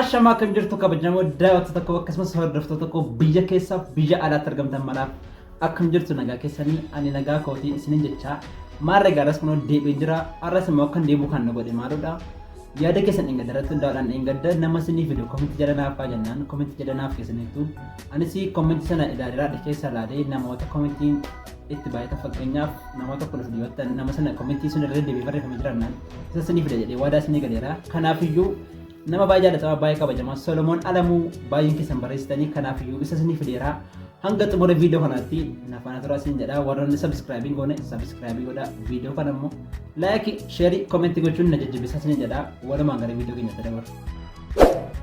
Ashamaa kan jirtu kabajamoo daawwattoota koo akkasumas hordoftoota koo biyya keessaaf biyya alaatti argamtan maraaf akkam jirtu nagaa keessanii ani nagaa kootii isinin jechaa maarra gaaraas kunoo deebiin jira arras immoo akkan deebi'u kan na godhe maaludha yaada keessan dheengadda irratti hundaa'uudhaan dheengadda nama isinii fidu komentii jala naaf haa jennaan komentii jala naaf keessaniittu anis komentii sana ilaalaa keessa ilaalee namoota komentiin itti baay'ata fakkeenyaaf namoota kudha sadii yoo ta'an nama sana komentii sun irra deebi'ee barreeffamee jiraannaan isa isinii fida jedhee waadaa isinii galeera kanaafiyyuu Nama baay'ee jaalatamaa baay'ee kabajamaa Solomoon Alamuu baay'een keessan barreessitanii kanaaf iyyuu isa isinii fideera. Hanga xumura viidiyoo kanaatti na faana turaa isin jedha warroonni sabiskiraabii goone sabiskiraabii godha viidiyoo kana immoo laayikii sheerii koomentii gochuun na jajjabeessaa isin jedha walumaan gara viidiyoo keenyatti dabarra.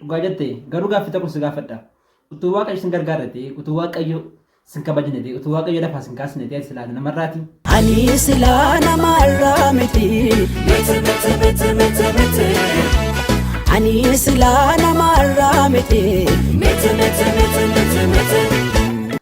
Dhugaa jette garuu gaaffii tokko si gaafadha. Utuu waaqayyo sin gargaara ta'e, utuu waaqayyo sin kabajne ta'e, utuu waaqayyo lafaa sin kaasne ta'e silaa namarraati. Ani silaa namarraa miti. Ani silaa namarraa miti.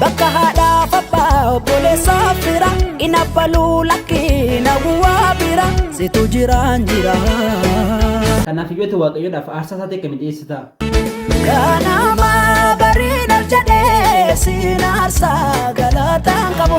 Bakka haadhaaf abbaa obboleessaaf fira hin abbaluu lakkii na bu'aa bira situ jiraan jira. Kanaaf iyyuu ati waaqayyoodhaaf aarsaa isaa ta'e kan dhiyeessita. Ganama bariin ol jedhee siin aarsaa galataan qabu.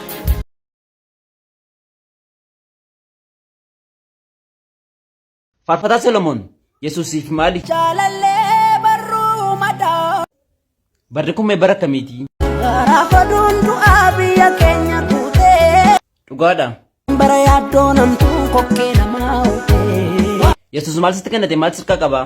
Faarfataa Solomoon Yesuusiif maali? Jaalallee barruu madaa. Barri kun mee bara akkamiiti? Gaafa duundu'aa biyya keenya guutee. Dhugaadha. Bara yaaddoo namtuu kokkee namaa hootee. Yesuus maal sitti kennate maal sirkaa qabaa?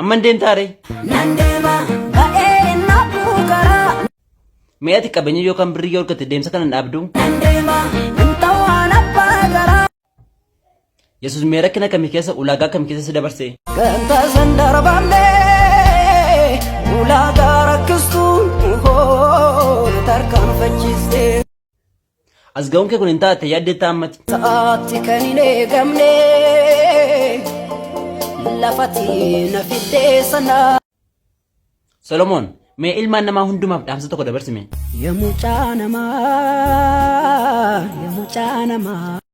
Amman deemtaa ree? Nan deema ba'ee na buukaraa. Mee ati qabeenya yookaan birrii yoo argatte deemsa kana hin dhaabdu? Nan deema nan ta'aan abbaa garaa. Yesuus mee rakkina kamii keessa ulaagaa kam keessa si dabarse? Ganta san darbamnee ulaagaa rakkistuun hoo tarkaanfachiistee. As ga'uun kee kun hin taate yaaddeettaa ammati. Sa'aatti kan hin eegamne lafati na fiddee sana. Solomoon mee ilmaan namaa hundumaaf dhaamsa tokko dabarsime. Ya mucaa namaa, ya mucaa namaa.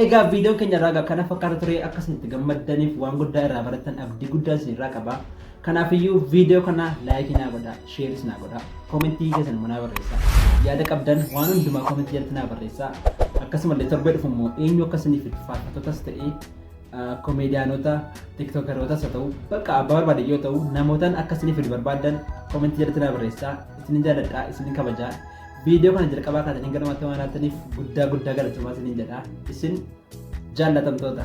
Egaa viidiyoon keenya irraa egaa kana fakkaata ture akka isin itti gammaddaniif waan guddaa irraa barattan abdii guddaa isin irraa qaba. Kanaafiyyuu viidiyoo kana laayikii naa godhaa, sheeris naa godhaa, koomentii keessan immoo naa barreessaa. Yaada qabdan waan hundumaa koomentii jalatti naa barreessaa. Akkasumallee torbee dhufu immoo eenyu akka isiniif fidu faarfattotas ta'ee komeediyaanota, tiktookerootas haa ta'u bakka abbaa barbaade yoo ta'u namootaan akka isiniif fidu barbaaddan koomentii jalatti naa barreessaa. Isinin jaaladhaa, isinin kabajaa. Viidiyoo kana jalqabaa kaasee hanga dhumaatti waan ilaaltaniif guddaa guddaa galatoomaa isiniin jedha. Isin jaallatamtoota.